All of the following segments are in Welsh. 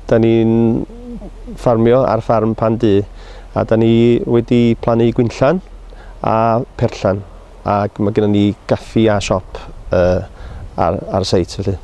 Da ni'n ffarmio ar ffarm pan du a da ni wedi plannu gwynllan a perllan ac mae gennym ni gaffi a siop uh, ar, ar y seit felly.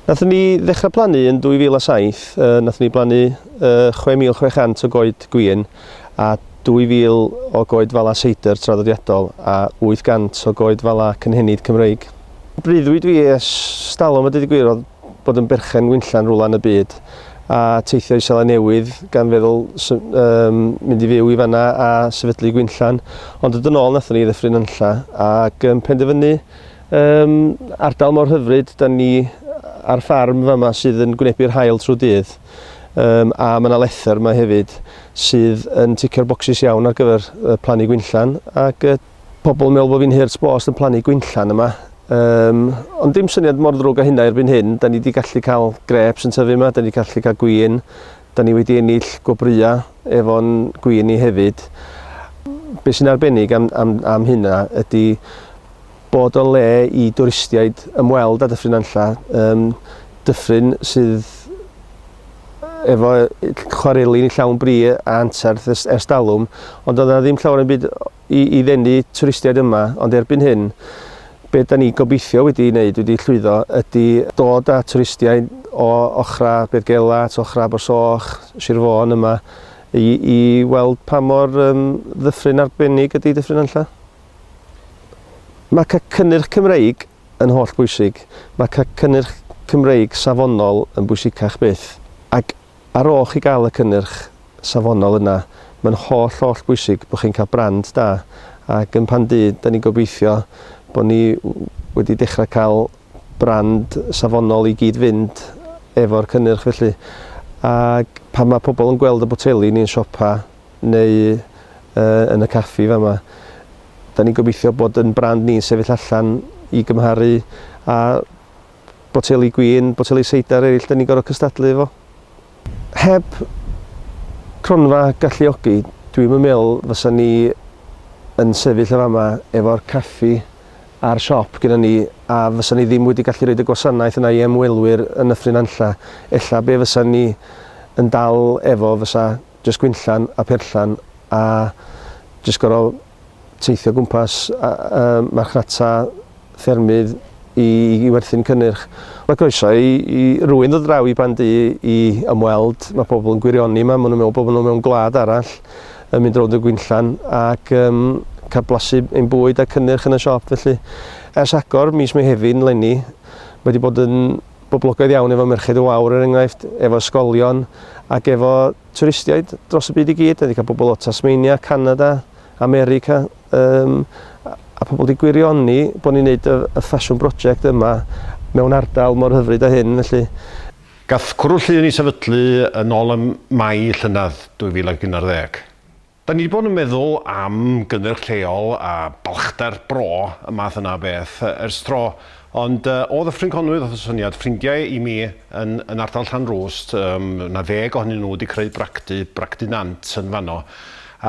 Nathon ni ddechra plannu yn 2007, yy nathon ni blannu yy 6,600 o goed gwin a 2,000 o goed fala seidr traddodiadol a 800 o goed fala cynhenid Cymreig. Breuddwyd fi es stalwm a deud y gwir o'dd bod yn berchen winllan rwla yn y byd a teithio i Seland Newydd gan feddwl sy- yym mynd i fyw i fanna a sefydlu gwinllan ond dod yn ôl nathon ni i Ddyffryn Nantlla ag yn penderfynu Ym ardal mor hyfryd, da ni ar ffarm fama sydd yn gwynebu'r haul trwy dydd, um, a mae yna lethr yma hefyd sydd yn ticio'r bocsys iawn ar gyfer uh, plannu gwynllan, ac uh, pobl yn meddwl bod fi'n hurt bost yn plannu gwynllan yma, Um, ond dim syniad mor ddrwg o hynna erbyn hyn. Da ni wedi gallu cael greps yn tyfu yma, da ni wedi gallu cael gwyn, da ni wedi ennill gwobrwya efo'n gwyn ni hefyd. Be sy'n arbennig am, am, am hynna ydy Bod o le i dwristiaid ymweld â Dyffryn Nantlle, yym dyffryn sydd efo chwareli yn llawn bri a anterth ers ers talwm, ond doedd 'na ddim llawer o'm byd i i ddenu twristiaid yma, ond erbyn hyn, be' 'dan ni gobeithio wedi neud, wedi llwyddo, ydi dod â twristiaid o ochra' Beirgela, t'o' ochra' Abersoch, Sir Fôn yma i i weld pa mor yym ddyffryn arbennig ydi Dyffryn Nantlle. Mae cael cynnyrch Cymreig yn holl bwysig. Mae cael cynnyrch Cymreig safonol yn bwysicach byth. Ac ar ôl chi gael y cynnyrch safonol yna, mae'n holl, holl bwysig bod chi'n cael brand da. Ac yn Pan Du, da ni'n gobeithio bod ni wedi dechrau cael brand safonol i gyd fynd efo'r cynnyrch felly. Ac pan mae pobl yn gweld y boteli ni'n siopa, neu yn y caffi fama. Dan ni'n gobeithio bod yn brand ni'n sefyll allan i gymharu a boteli gwin, boteli seidar eraill dan ni'n gorfod cystadlu efo. Heb cronfa galluogi, dwi'm yn meddwl fysa ni yn sefyll yn fama efo'r caffi a'r siop gyda ni a fysa ni ddim wedi gallu rhoi y gwasanaeth yna i ymwelwyr yn Nyffryn Anlla. Ella be fysa ni yn dal efo fysa jyst gwinllan a pherllan a jyst gor'o' teithio o gwmpas a yym marchnata ffermydd i i werthu'n cynnyrch. Mae croeso i i rywun ddod draw i Ban-du i ymweld, ma' pobol yn gwirioni 'ma, ma' nw'n me'wl bo' nw mewn gwlad arall yn mynd rownd y gwinllan ac yym ca'l blasu ein bwyd a cynnyrch yn y siop felly. Ers agor mis Mehefin 'leni mae 'di bod yn boblogaidd iawn efo Merched y Wawr er enghraifft, efo ysgolion ac efo twristiaid dros y byd i gyd. Da ni 'di cael pobl o Tasmania, Canada, America yym a a pobl 'di gwirioni bod ni'n neud y y ffasiwn broject yma mewn ardal mor hyfryd â hyn felly. Gath Cwrw Llŷn ei sefydlu yn ôl ym Mai llynedd 2011. Da ni 'di bod yn meddwl am gynnyrch lleol a balchder bro, y math yna o beth, ers tro, ond o Ddyffryn Conwy ddoth y syniad, ffrindiau i mi yn yn ardal Llanrwst, yym, na ddeg ohonyn nhw 'di creu bragdy, bragdy nant yn fanno,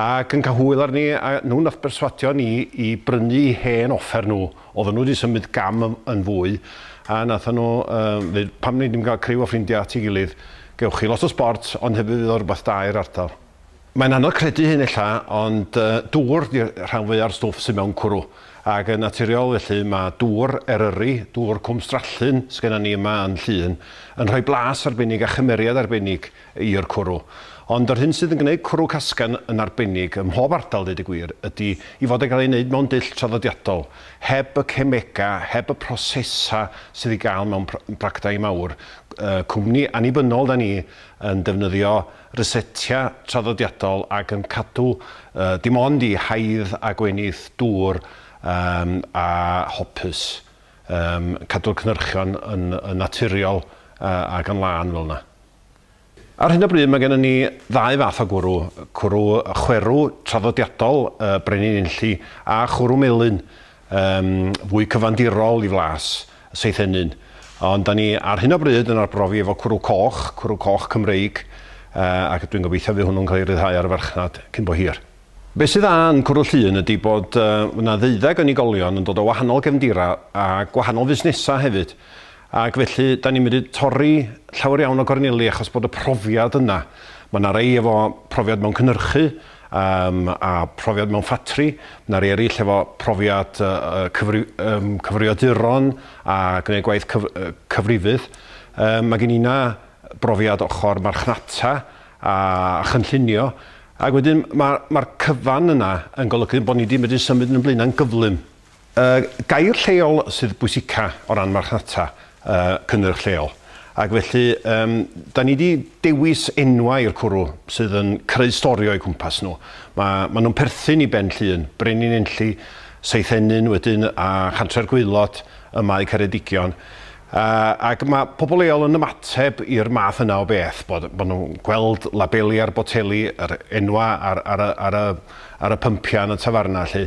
ac yn cael hwyl arni, a nhw nath berswadio ni i brynu i hen offer nhw, oedden nhw 'di symud gam yn fwy, a nathon nhw yym ddeud, pam nei di'm cael criw o ffrindiau at ei gilydd, gewch chi lot o sbort, ond hefyd fydd o'n rwbath da i'r ardal. Mae'n anodd credu hyn ella, ond dŵr ydy rhan fwya'r stwff sydd mewn cwrw, ac yn naturiol felly mae dŵr Eryri, dŵr Cwm Strallyn sydd gennym ni yma yn Llŷn, yn rhoi blas arbennig a chymeriad arbennig i'r cwrw. Ond yr hyn sydd yn gwneud cwrw Casgan yn arbennig ym mhob ardal, deud y gwir, ydy ei fod yn cael ei wneud mewn dull traddodiadol, heb y cemegau, heb y prosesau sydd ei gael mewn practau mawr cwmni annibynnol 'da ni yn defnyddio rysetia traddodiadol ac yn cadw dim ond i haidd a gwenith dŵr a hopys, cadw'r cynhyrchion yn naturiol ac yn lân fel yna. Ar hyn o bryd mae gennym ni ddau fath o gwrw, cwrw chwerw traddodiadol Brenin Enlli a chwrw melyn Yym, fwy cyfandirol i flas y Seithennyn. Ond 'da ni ar hyn o bryd yn arbrofi efo cwrw coch, cwrw coch Cymreig, yy, ac dwi'n gobeithio fydd hwnnw'n cael ei ryddhau ar y farchnad cyn bo hir. Be' sydd dda yn cwrw Llŷn ydi bod, yy, ma' 'na ddeuddeg o unigolion yn dod o wahanol gefndira a gwahanol fusnesa hefyd, ac felly 'da ni'n medru torri llawer iawn o gorneli achos bod y profiad yna. Ma' 'na rei efo profiad mewn cynyrchu, Yym a profiad mewn ffatri, na rei eryll efo profiad yy yym cyfrifiaduron a gneud gwaith cyf- yy cyfrifydd. Yym ma' gin inna brofiad ochor marchnata a a chynllunio ag wedyn ma' ma'r cyfan yna yn golygu bo' ni di medru symud yn yn Blaena' yn gyflym. Y gair lleol sydd bwysica o ran marchnata cynnyrch lleol ac felly yym 'dan ni 'di dewis enwau i'r cwrw sydd yn creu stori o'u cwmpas nhw. Ma' ma' nhw'n perthyn i Ben Llŷn, Brenin Enlli, Seithenyn wedyn a Chantre'r Gwaelod ym Mae Ceredigion. Yy, ac mae pobl leol yn ymateb i'r math yna o beth, bod, bod nhw'n gweld labeli ar boteli, yr enwau ar, ar, y, ar, y, ar y pympiau yn y tafarnau 'lly.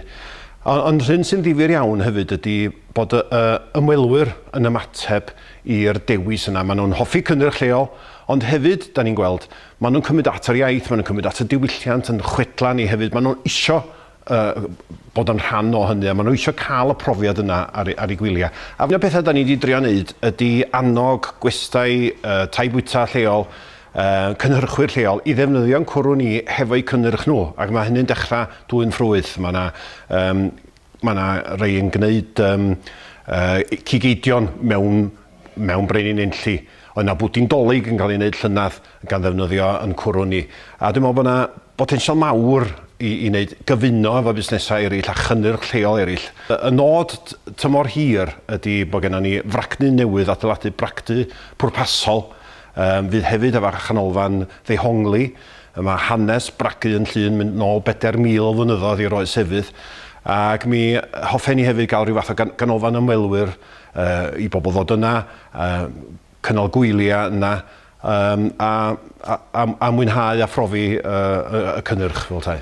Ond, ond hyn sy'n ddifyr iawn hefyd ydy bod y, y ymwelwyr yn ymateb i'r dewis yna. Maen nhw'n hoffi cynnyrch lleol, ond hefyd, da ni'n gweld, maen nhw'n cymryd at yr iaith, maen nhw'n cymryd at y diwylliant yn chwedlau ni hefyd, maen nhw'n isio yy bod yn rhan o hynny a ma' n'w isio ca'l y profiad yna ar eu ar eu gwylia. A un o'r petha 'dan ni 'di drio neud ydi annog gwestai yy tai bwyta lleol yy cynhyrchwyr lleol i ddefnyddio'n cwrw ni hefo'u cynnyrch nhw ac ma' hynny'n dechra dwyn ffrwyth ma' 'na yym ma' 'na rei yn gneud yym yy cig eidion mewn mewn brenin Enlli, oedd 'na bwdin Dolig yn cael ei wneud llynedd gan ddefnyddio yn cwrw ni. A dwi'n meddwl bod 'na botensial mawr i i wneud gyfuno efo busnesau eraill a chynnyrch lleol eraill. Y y nod t- tymor hir ydy bod gennon ni fragdy newydd, adeiladu bragdy pwrpasol yym fydd hefyd efo chanolfan ddehongli. Yy ma' hanes bragu yn Llŷn mynd nôl bedair mil o flynyddoedd i'r oes efydd ac mi hoffen ni hefyd ga'l ryw fath o gan- ganolfan ymwelwyr i bobl ddod yna, cynnal gwyliau yna a mwynhau a phrofi y cynnyrch fel petai.